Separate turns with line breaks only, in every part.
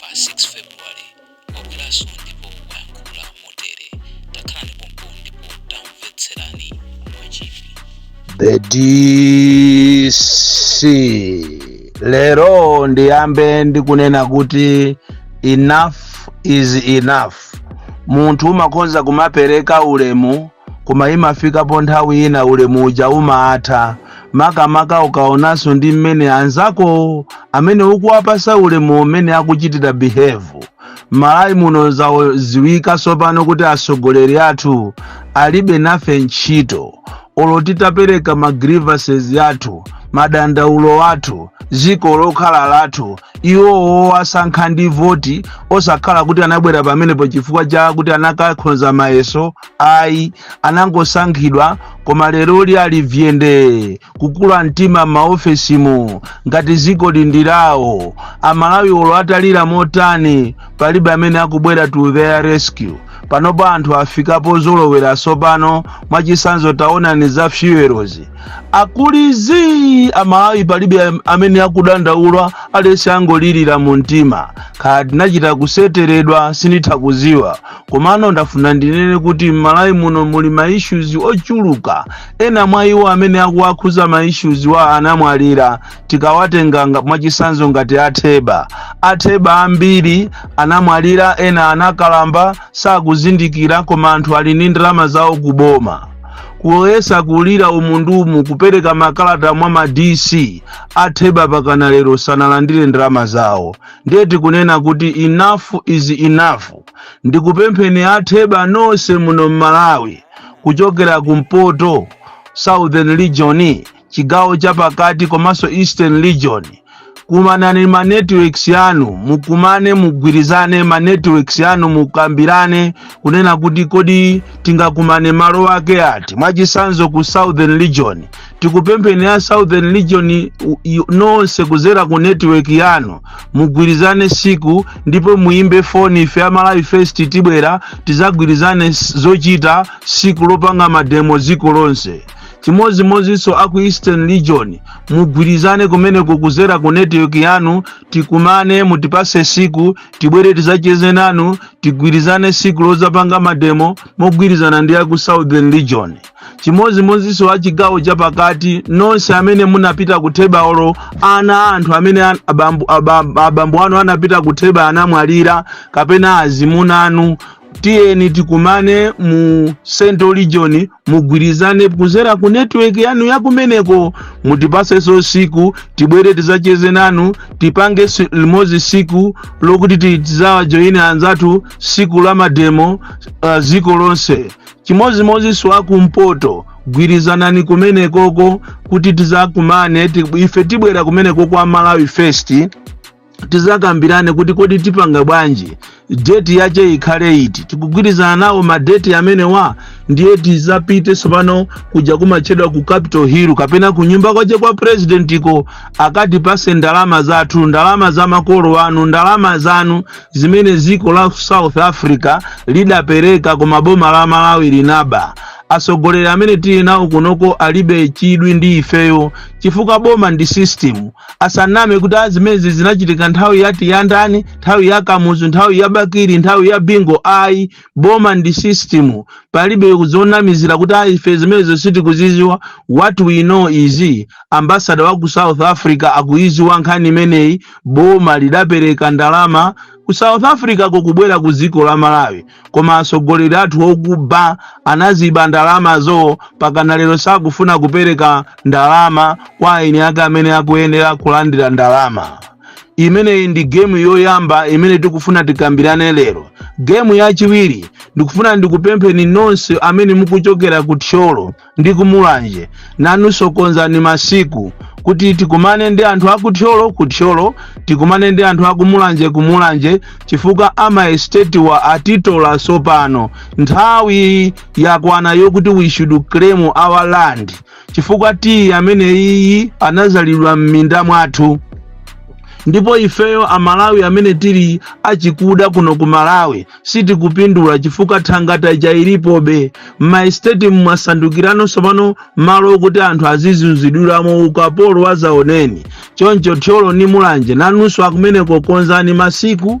pa 6 February wabweranso ndipo wayankhula motere. Takhalani pompo ndipo tamvetserani mwachidwi. The
DC lero ndiyambe ndikunena kuti enough is enough. Munthu umakhoza kumapereka ulemu koma imafikapo nthawi ina ulemu uja umatha. makamaka ukaonanso ndi mmene anzakowo amene ukuwapasa ulemu umene akuchitira behave malawi muno zaziwika tsopano kuti atsogoleri athu alibe nafe ntchito olo titapereka ma grievances athu madandaulo athu dziko lokhala lathu iwowo asankha ndi voti osakhala kuti anabwera pamenepo chifukwa cha kuti anakakhonza mayeso ayi anangosankhidwa koma lero li ali vyende kukula mtima m'maofesimu ngati ziko ndi lawo amalawi olo atalira motani palibe amene akubwera to their rescue panopo anthu afika pozolowera sopano mwachisanzo taonani za fuel zikulizi amalawi palibe am- amene akudandaula aliyense angolirira mu mtima kaya tinachita kuseteredwa sinditha kuziwa komano ndafuna ndinene kuti m'malawi muno muli ma issues ochuluka ena mwa iwo amene akuwakhuza ma issues wa anamwalira tikawatenga nga- mwachisanzo ngati atheba atheba ambiri anamwalira ena anakalamba sakuzindikira koma anthu ali ndi ndalama zawo kuboma kuyesa kulira umu ndi umu kupereka makalata mwa ma dc atheba pakana lero sanalandire ndalama zawo ndiye tikunena kuti enough is enough ndikupempheni atheba nonse muno m'malawi kuchokera kumpoto southern region chigawo chapakati komanso eastern region kumanani ma networks yanu mukumane mugwirizane ma networks yanu mukambirane kunena kuti kodi tingakumane malo ake ati mwachisanzo ku southern region tikupempheni a southern region i- i- nonse kuzera ku network yanu mugwirizane siku ndipo muimbe foni ife a Malawi first tibwera tizagwirizane s- zochita siku lopanga mademo dziko lonse chimodzimodzinso aku eastern region mugwirizane kumeneko kuzera ku network yanu tikumane mutipase siku tibwere tizacheze nanu tigwirizane siku lozapanga mademo mogwirizana ndi aku southern region chimodzimodzinso a chigawo chapakati nonse amene munapita ku theba olo ana a anthu amene abambo anu anapita ku theba anamwalira kapena azimuna anu tiyeni tikumane mu central region mugwirizane kuzera ku network yanu yakumeneko mutipasenso siku tibwere tizacheze nanu tipange limodzi siku lokuti tizawajoyine anzathu siku la mademo uh, ziko lonse chimodzimodzinso akumpoto gwirizanani kumenekoko kuti tizakumane ife tibwera kumeneko kwa malawi first tizakambirane kuti kodi tipanga bwanji deti yache ikhale iti tikugwirizana nawo madeti amenewa ndiye tizapite tsopano kuja kumatchedwa ku capital hill kapena ku nyumba kwache kwa presidentiko akatipase ndalama zathu ndalama za makolo anu ndalama zanu zimene dziko la south africa lidapereka koma boma la malawi linaba atsogoleri amene tili nawo kunoko alibe chidwi ndi ifeyo chifukwa boma ndi system asaname kuti azimezi zinachitika nthawi yati ya ndani nthawi ya kamuzu nthawi ya bakili nthawi ya bingu ayi boma ndi system palibe zonamizira kuti ayi ife zimenezo sitikuziziwa what we know is ambasada wa ku south africa akuiziwa nkhani imeneyi boma lidapereka ndalama ku south africa kokubwera ku dziko la malawi koma atsogoleri athu okuba anaziba ndalamazo pakana lero sakufuna kupereka ndalama kwa eni ake amene akuyenera kulandira ndalama imeneyi ndi gemu yoyamba imene tikufuna tikambirane lero gemu yachiwiri ndikufuna ndikupempheni nonse amene mukuchokera ku thyolo ndi kumulanje nanunso konzani masiku kuti tikumane ndi anthu aku thyolo ku thyolo tikumane ndi anthu aku mulanje ku mulanje chifukwa amaestetiwa atitola sopano nthawi yakwana yokuti we should claim our land chifukwa tiyi amene iyi anazalidwa m'minda mwathu ndipo ifeyo amalawi amene tili achikuda kuno ku malawi sitikupindula chifukwa thangata ija ilipobe m'maesiteti mwasandukirano tsopano malo okuti anthu azizunzidwiramo ukapolo wazaoneni choncho thyolo ni mulanje nanunso akumeneko konzani masiku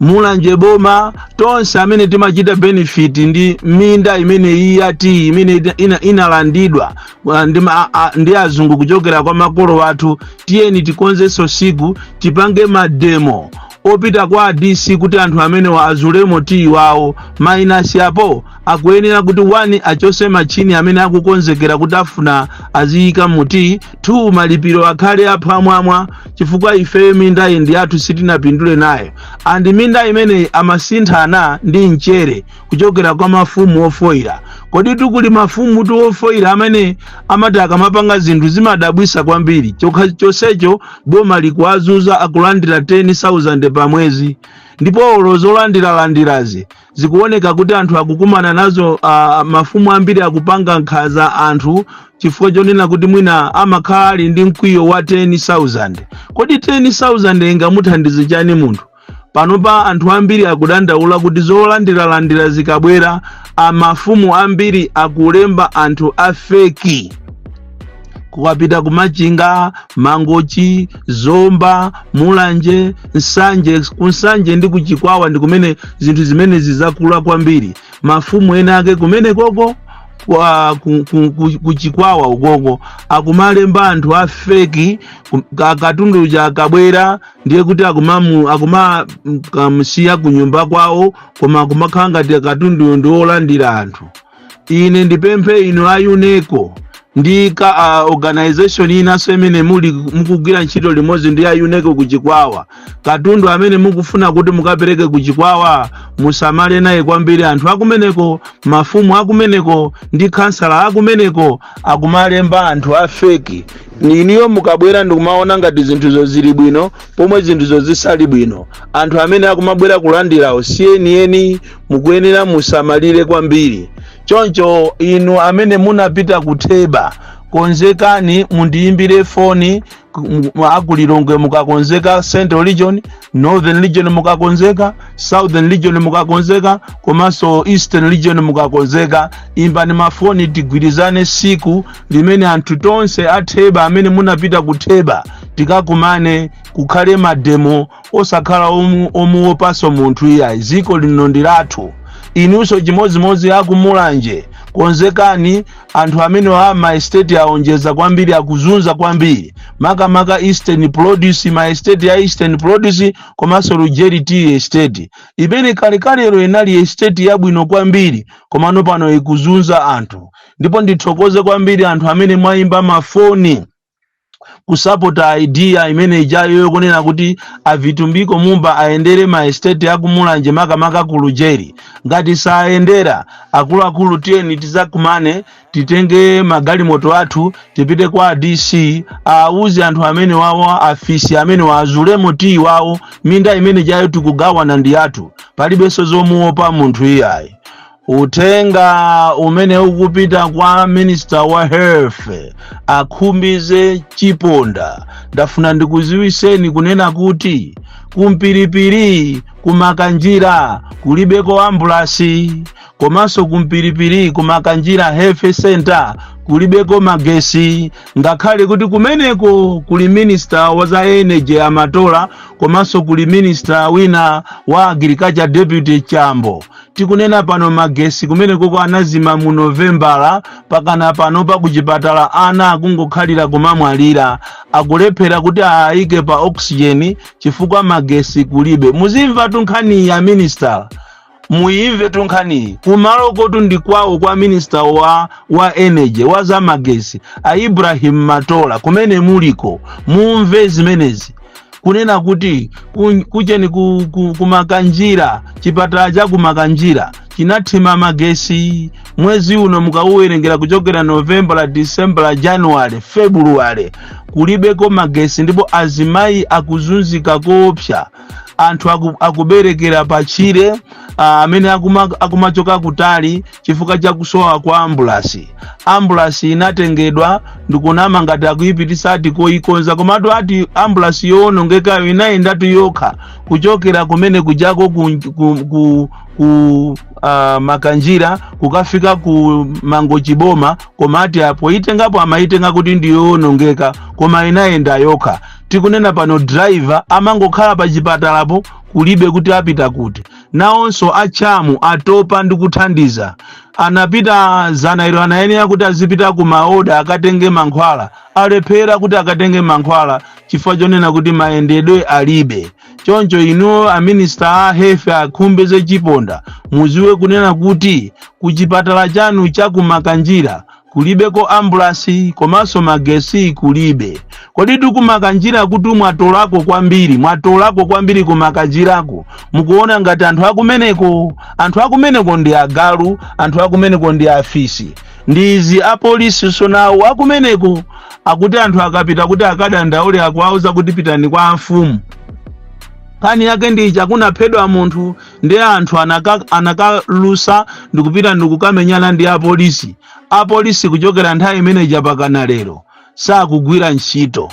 mulanje boma tonse amene timachita benefit ndi minda imene iyi ya tiyi imene inalandidwa uh, ndi azungu kuchokera kwa makolo athu tiyeni tikonzenso siku tipange mademo opita kwa a dc kuti anthu amenewa azulemo tiyi wawo mainasi apo akuyenera kuti 1 achose machini amene akukonzekera kuti afuna aziyika mu tiyi 2 malipiro akhale aphwamwamwa chifukwa ifeyo mindayi ndi yathu sitinapindule nayo andi minda imeneyi amasinthana ndi mchere kuchokera kwa mafumu ofoyira kodi tu kuli mafumu tu ofoyira amene amati akamapanga zinthu zimadabwisa kwambiri chokha chonsecho boma likuwazuza akulandira 10000 pa mwezi ndipo olo zolandiralandirazi zikuoneka kuti anthu akukumana nazo uh, mafumu ambiri akupanga nkhanza anthu chifukwa chonena kuti mwina amakhala ali ndi mkwiyo wa 10000 kodi 10000 ingamuthandize chani munthu panopa anthu ambiri akudandaula kuti zolandiralandira zikabwera mafumu ambiri akulemba anthu afeki mukapita kumachinga mangochi zomba mulanje nsanje kunsanje ndi kuchikwawa ndi kumene zinthu zimenezi zakula kwambiri mafumu ena ake kumenekoko kwa ku- ku- ku- kuchikwawa ukoko akumalemba anthu a feki ku- ka- katundu uja akabwera ndiye kuti akumamu akumamusiya kunyumba kwawo koma akumakhala ngati katunduyo ndi olandira anthu ine ndipemphe inu a uneco ndi ma organization inanso imene muli mukugwira ntchito limodzi ndi a uneco ku chikwawa katundu amene mukufuna kuti mukapereke ku chikwawa musamale naye kwambiri anthu akumeneko mafumu akumeneko ndi khansala akumeneko akumalemba anthu a feki inuyo mukabwera ndikumaona ngati zinthuzo zili bwino pomwe zinthuzo zisali bwino anthu amene akumabwera kulandirawo sienieni mukuyenera musamalire kwambiri choncho inu amene munapita ku theba konzekani mundiyimbire foni mu- akulilongwe mukakonzeka central region northern region mukakonzeka southern region mukakonzeka komanso eastern region mukakonzeka imbani mafoni tigwirizane tsiku limene anthu tonse atheba amene munapita kutheba tikakumane kukhale mademo osakhala omu- omuwopanso munthu iyayi dziko lino ndi lathu inunso chimodzimodzi akumulanje konzekani anthu amene a maesteti aonjeza kwambiri akuzunza kwambiri makamaka eastern produce maesteti ya eastern produce komanso lujeri tea estate imene kalekalero inali estate yabwino kwambiri komano pano ikuzunza anthu ndipo ndithokoze kwambiri anthu amene mwayimba mafoni kusapota idea imene ijayo yokunena kuti avitumbiko mumba ayendere ma estate akumulanje makamaka ku lujeri ngati sayendera akuluakulu tiyeni tizakumane titenge magalimoto athu tipite kwa dc awuze anthu amene wawo afisi amenewa azulemo tiyi wawo minda imene ijayo tikugawana ndi yathu palibenso zomuopa munthu iyayi uthenga umene ukupita kwa minister wa health a Khumbize Chiponda ndafuna ndikuziwiseni kunena kuti kumpiripiri kumakanjira kulibeko ambulasi komanso kumpiripiri kumakanjira health center kulibeko magesi ngakhale kuti kumeneko kuli minista wa za energy a Matola komanso kuli minista wina wa agriculture deputy chambo tikunena pano magesi kumenekoko anazima mu novembala pakana pano pakuchipatala ana akungokhalira kumamwalira akulephera kuti awayike pa oxygen chifukwa magesi kulibe muzimva tu nkhaniyi a minisitala muyimve tu nkhaniyi kumalokotu ndi kwawo kwa minista wa, wa energy wa zamagesi a ibrahim matola kumene muliko mumve zimenezi kunena kuti ku- kucheni ku- ku- kumakanjira chipatala cha kumakanjira chinathima magesi mwezi uno mukauwerengera kuchokera novembala disembala januwale februwale kulibeko magesi ndipo azimayi akuzunzika koopsa anthu aku- akuberekera pachire ah, amene akuma- akumachoka kutali chifukwa cha kusowa kwa ambulasi ambulasi inatengedwa ndikunama ngati akuyipitisa ati koyikonza komatu ati ambulasi yowonongekayo inayendatu yokha kuchokera kumene kujako ku, ku, ku, ku uh, makanjira kukafika ku mangochi boma koma ati apo poyitengapo amayitenga kuti ndiyowonongeka koma inayenda yokha tikunena pano driver amangokhala pa chipatalapo kulibe kuti apita kuti. Nawonso a CHAM atopa ndi kuthandiza. Anapita zana ilo anayenera kuti azipita ku maoda akatenge mankhwala. Alephera kuti akatenge mankhwala chifukwa chonena kuti mayendedwe alibe. Choncho inuyo a minister a health a Khumbize Chiponda muziwe kunena kuti ku chipatala chanu cha ku Makanjira kulibeko ambulasi komanso magesi kulibe kodi tu kumakanjirakutu mwatolako kwambiri mwatolako kwambiri kumakanjirako mukuona ngati anthu akumeneko anthu akumeneko ndi agalu anthu akumeneko ndi afisi ndi izi apolisi sonawonso akumeneko akuti anthu akapita kuti akadandaule akuwauza kuti pitani kwa amfumu nkhani yake ndi iti ya kunaphedwa munthu ndiye anthu anaka- anakalusa ndikupita ndikukamenyana ndi apolisi apolisi kuchokera nthawi imene ija pakana lero sakugwira ntchito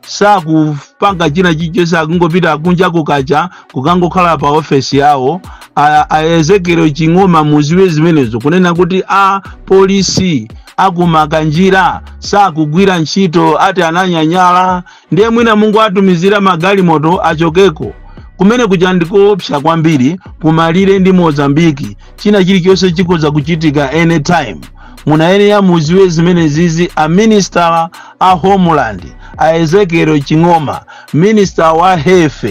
sakupanga china chilichonse akungopita kunja kukacha kukangokhala pa ofesi yawo A- a ezekiel ching'oma muziwe zimenezo kunena kuti a polisi akumakanjira sakugwira ntchito ati ananyanyala ndiye mwina mungowatumizira magalimoto achokeko kumene kuja ndikoopsa kwambiri kumalire ndi mozambiki china chilichonse chikhoza kuchitika anytime munayenera muziwe zimenezizi a minister a homeland a ezekiel ching'oma minister wa health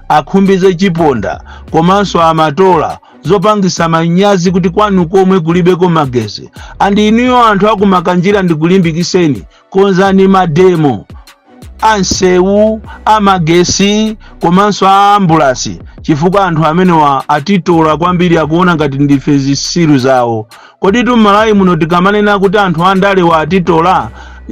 akhumbize chiponda komanso amatola zopangisa manyazi kuti kwanu komwe kulibeko magesi andi inuyo anthu akumakanjira ndikulimbikiseni konzani mademo a nsewu a magesi komanso a ambulasi chifukwa anthu amenewa atitola kwambiri akuona ngati ndife zisiru zawo kodi m'malawi muno tikamanena kuti anthu andalewa atitola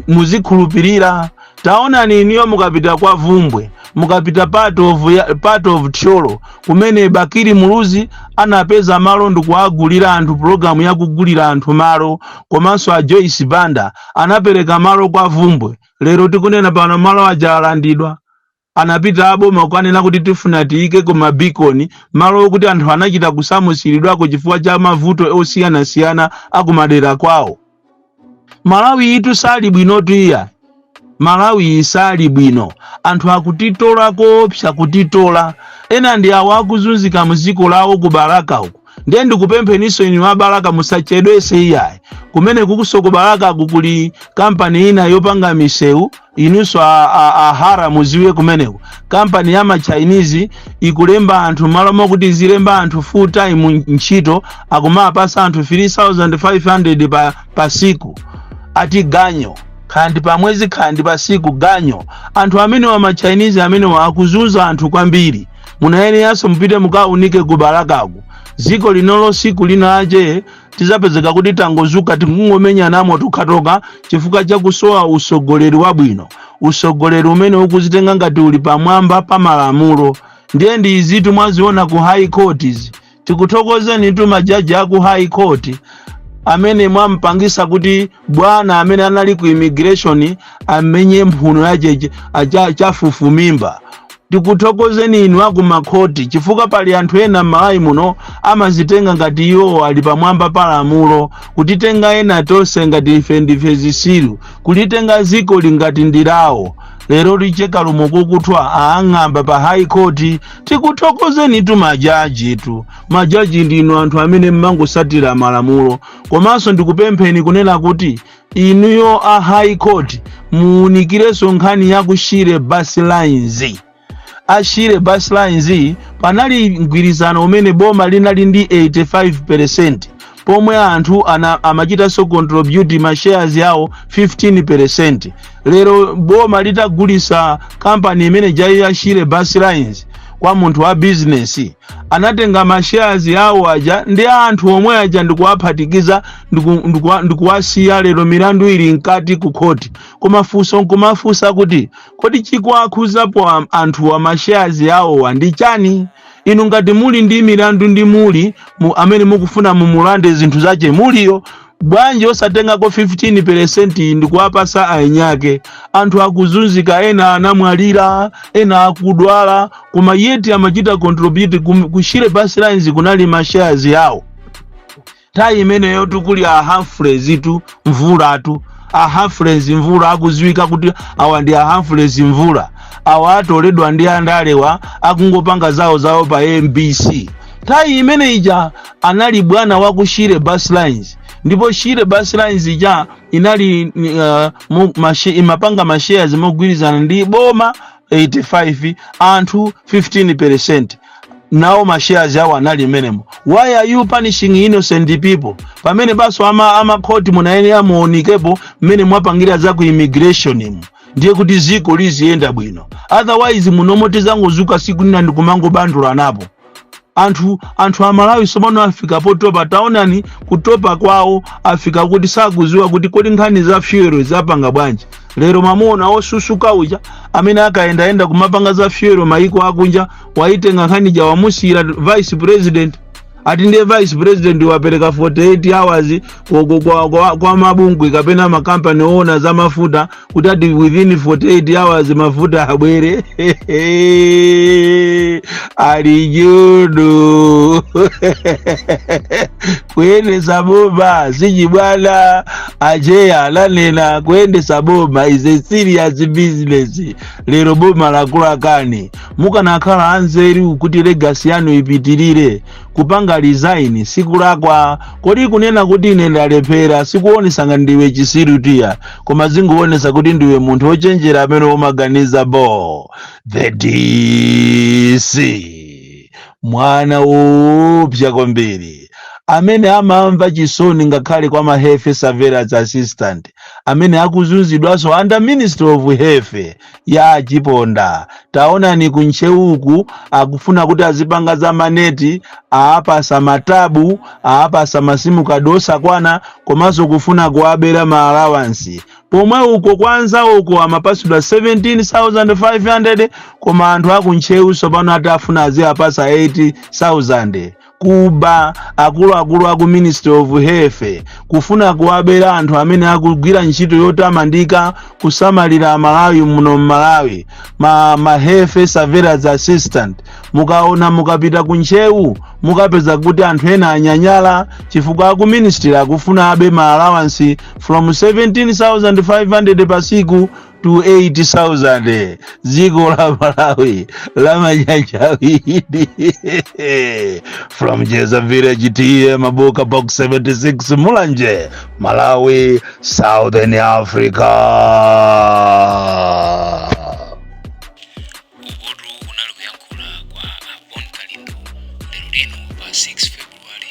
muzikhulupirira taonani inuyo mukapita kwa vumbwe mukapita part of thyolo kumene bakili muluzi anapeza malo ndikuwagulira anthu pulogalamu yakugulira anthu malo komanso a joyce banda anapereka malo kwa vumbwe lero tikunena pano malo aja alandidwa anapita aboma kukanena kuti tifuna tiyike ko mabikoni malo okuti anthu anachita kusamusiridwako chifukwa cha mavuto osiyanasiyana akumadera kwawo malawiyitu sali bwinotu iya malawiyi sali bwino anthu akutitola koopsa kutitola ena ndi awo akuzunzika muziko lawo ku balaka uku ndiye ndikupempheninso inu a balaka musachedwese iyayi kumene kukusoko balakaku kuli kampani ina yopanga misewu inunso a hara muziwe kumeneko kampani ya machinese ikulemba anthu malo mokuti izilemba anthu full time ntchito akumapasa anthu 3500 pa siku ati ganyo khandi pamwezi khandi pasiku ganyo anthu amenewa machinese amenewa akuzunza anthu kwambiri munayeneranso mupite mukaunike ku balakaku dziko linolo siku linalache tizapezeka kuti tangozuka tikungomenyanamo tokhatokha chifukwa chakusowa usogoleri wabwino usogoleri umene ukuzitenga ngati uli pamwamba pa malamulo ndiye ndi izitu mwaziona ku high courts tikuthokozenitu majaji a ku high court amene mwampangisa kuti bwana amene anali ku immigration amenye mphuno yache achafufumimba tikuthokozeni inu aku makhoti chifukwa pali anthu ena m'malawi muno amazitenga ngati iwo ali pamwamba pa lamulo kutitenga ena tonse ngati ife ndife zisiru kulitenga ziko li ngati ndilawo lero licheka lomwe kukuthwa aang'amba pa high court tikuthokozenitu majajitu majaji ndinu anthu amene mmangosatira malamulo komanso ndikupempheni kunena kuti inuyo a high court muunikirenso nkhani ya ku shire bus lines a shire bus lines panali mgwirizano umene boma linali ndi 85 pomwe anthu ana amachitanso contribute ma shares yawo 15% lero boma litagulisa kampani imene ija ya Shire Bus Lines kwa munthu wa business anatenga ma shares yawo aja ndi anthu omwe aja ndikuwaphatikiza ndiku- ndikuwa- ndikuwasiya lero milandu ili mkati ku khoti koma funso nkumafunsa kuti kodi chikuwakhuzapo am- anthuwa ma shares yawowa ndi chani inu ngati muli ndi milandu ndi Mulli amene mukufuna mumulande zinthu zache Mulliyo bwanji osatengako 15 peresenti ndikuwapasa aeniake anthu akuzunzika ena anamwalira ena akudwala koma yeti amachita contribute kum- ku Shire Bus Lines kunali mashares yawo time imeneyo tikuli a Humphreys tu mvula tu a Humphreys mvula akuziwika kuti awa ndi a Humphreys mvula awa atoledwa ndi andalewa akungopanga zawo zawo pa MBC time imene ija anali bwana wa ku Shire Bus Lines ndipo Shire Bus Lines ija inali uh, mu- mashe- imapanga mashares mogwirizana ndi boma 85 anthu 15 percent nawo mashares awo anali mmenemo why are you punishing innocent people pamene banso ama amakhoti munayenera muonikepo mmene mwapangira za ku immigration mu ndiye kuti ziko liziyenda bwino otherwise munomo tizangozuka siku lina ndikumangobandulanapo anthu anthu amalawi sopano afika potopa taonani kutopa kwawo afika kuti sakuziwa kuti kodi nkhani za fuel zapanga bwanji lero mwamuona osusuka uja amene akayendayenda kumapanga za fuel mayiko akunja waitenga nkhani ja wamusiyira vice president ati ndiye vice president wapereka 48 hours kwa, kwa, kwa, kwa mabungwe kapena makampani oona za mafuta kuti ati within 48 hours mafuta abwere ali judu kuyendesa boma si chibwana acheya ananena kuyendesa boma is a serious business lero boma lakukanikani mukanakhala anzeru kuti legacy yanu ipitirire kupanga resign sikulakwa kodi kunena kuti ine ndalephera sikuonesa ngati ndiwe chisiru tiya koma zingoonesa kuti ndiwe munthu wochenjera amene umaganiza bo the dc mwana woopsa kwambiri amene amamva chisoni ngakhale kwa ma health surveillance assistant amene akuzunzidwanso under ministry of health ya a Chiponda taonani ku ntcheuku akufuna kuti azipanga za maneti aapasa matabu aapasa masimu kadi osakwana komanso kufuna kuwabera ma alawansi pomwe uko kwa anzawo uko amapasidwa 17500 koma anthu aku ntcheu tsopano ati afuna aziapasa 8000 kuba akuluakulu aku ministry of health kufuna kuwabera anthu amene akugwira ntchito yotamandika kusamalira amalawi muno mmalawi ma, ma health surveillance assistant mukaona mukapita ku ntcheu mukapeza kuti anthu ena anyanyala chifukwa aku ministry akufuna abe ma allowance from 17500 pa siku to 8000 dziko la malawi la manyanja awiri from njedza village TA mabuka box 76 mulanje malawi southern
africa ukotu kunali kuyankhula kwa a bon kalindo lero lino pa 6 february